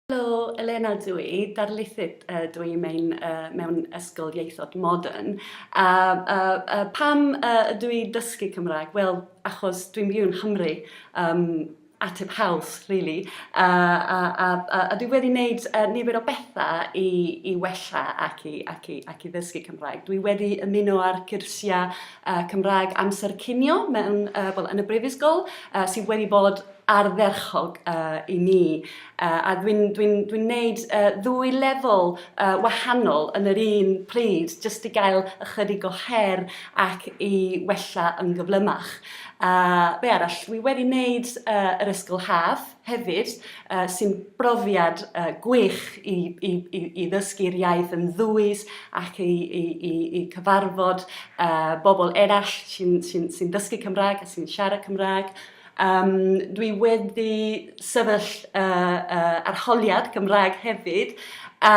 Helo, Elena dw i, darlithydd dw i mewn, mewn ysgol ieithod modern. A, a, a pam ydw i'n dysgu Cymraeg? Wel, achos dwi'n byw yng Nghymru, um, ateb haws, really. A, a, a, a, a dwi wedi wneud uh, nifer o bethau i, i wella ac i, ac, i, ac i ddysgu Cymraeg. Dwi wedi ymuno â'r cyrsiau uh, Cymraeg amser cinio mewn, uh, well, yn y brifysgol, uh, sydd wedi bod ardderchog uh, i mi uh, a dwi'n dwi n, dwi n neud uh, ddwy lefel uh, wahanol yn yr un pryd jyst i gael ychydig o her ac i wella yn gyflymach. Uh, be arall, dwi wedi wneud uh, yr ysgol haf hefyd uh, sy'n brofiad uh, gwych i, i, i, i ddysgu'r iaith yn ddwys ac i, i, i, i cyfarfod uh, bobl eraill sy'n sy n, sy n dysgu Cymraeg a sy'n siarad Cymraeg. Yym, dwi wedi sefyll y y arholiad Gymraeg hefyd, a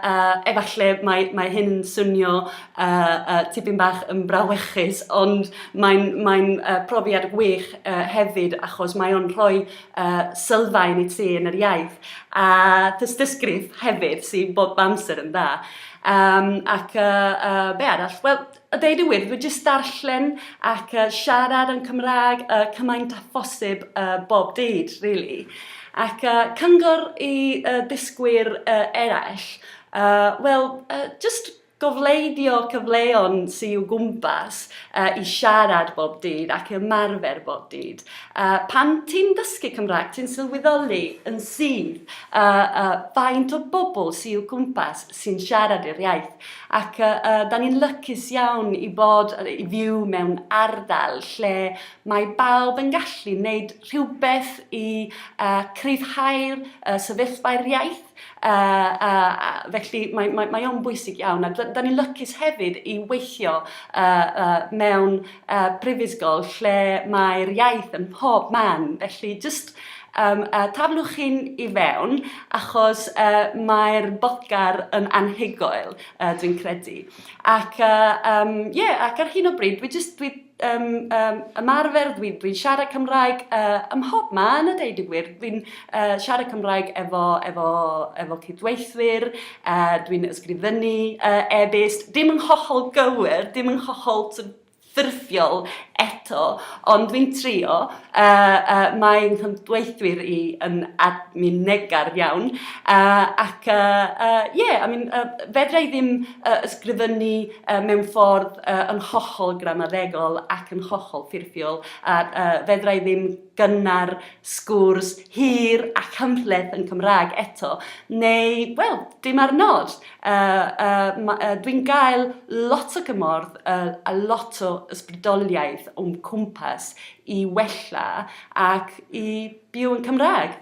a efalle mae mae hyn yn swnio y y tipyn bach yn brawychus, ond mae'n mae'n y profiad gwych y hefyd achos mae o'n rhoi y sylfaen i ti yn yr iaith, a tystysgrif hefyd sydd bob amser yn dda. Yym ac y y be arall? Wel, A deud y wir, dwi jyst darllen ac uh, siarad yn Cymraeg uh, cymaint â phosib uh, bob dydd, really. Ac uh, cyngor i uh, dysgwyr uh, eraill, uh, wel, uh, just gofleidio cyfleon sy'n i'w gwmpas uh, i siarad bob dydd ac ymarfer bob dydd. Uh, pan ti'n dysgu Cymraeg, ti'n sylweddoli yn sydd uh, uh, faint o bobl sy'n i'w gwmpas sy'n siarad yr iaith. Ac yy yy da ni'n lycus iawn i bod yy i fyw mewn ardal lle mae bawb yn gallu wneud rhywbeth i uh, cryfhau'r uh, sefyllfa'r iaith. Uh, uh, uh, felly mae, mae, mae o'n bwysig iawn. A da, da ni'n lycus hefyd i weithio uh, uh, mewn uh, prifysgol lle mae'r iaith yn pob man. Felly jyst Yym a taflwch hyn i fewn achos yy mae'r bocar yn anhygoel yy dwi'n credu. Ac yy yym ie ac ar hyn o bryd dwi jyst dwi yym yym ymarfer dwi dwi'n siarad Cymraeg yy ym mhob man a deud y gwir dwi'n yy siarad Cymraeg efo efo efo cydweithwyr yy dwi'n ysgrifennu yy e-byst dim yn hollol gywir dim yn hollol t'od ffurfiol eto, ond dwi'n trio. Uh, uh, mae nghymdweithwyr i yn admin negar iawn, uh, ac ie, uh, uh, yeah, I mean, uh, fedra i ddim uh, ysgrifennu uh, mewn ffordd uh, yn hollol gramaddegol ac yn hollol ffurfiol, a uh, fedra i ddim gynnar, sgwrs hir a chymhleth yn Cymraeg eto, neu, wel, dim ar nos. Uh, uh, uh, Dwi'n gael lot o gymorth uh, a lot o ysbrydoliaeth o'n cwmpas i wella ac i byw yn Cymraeg.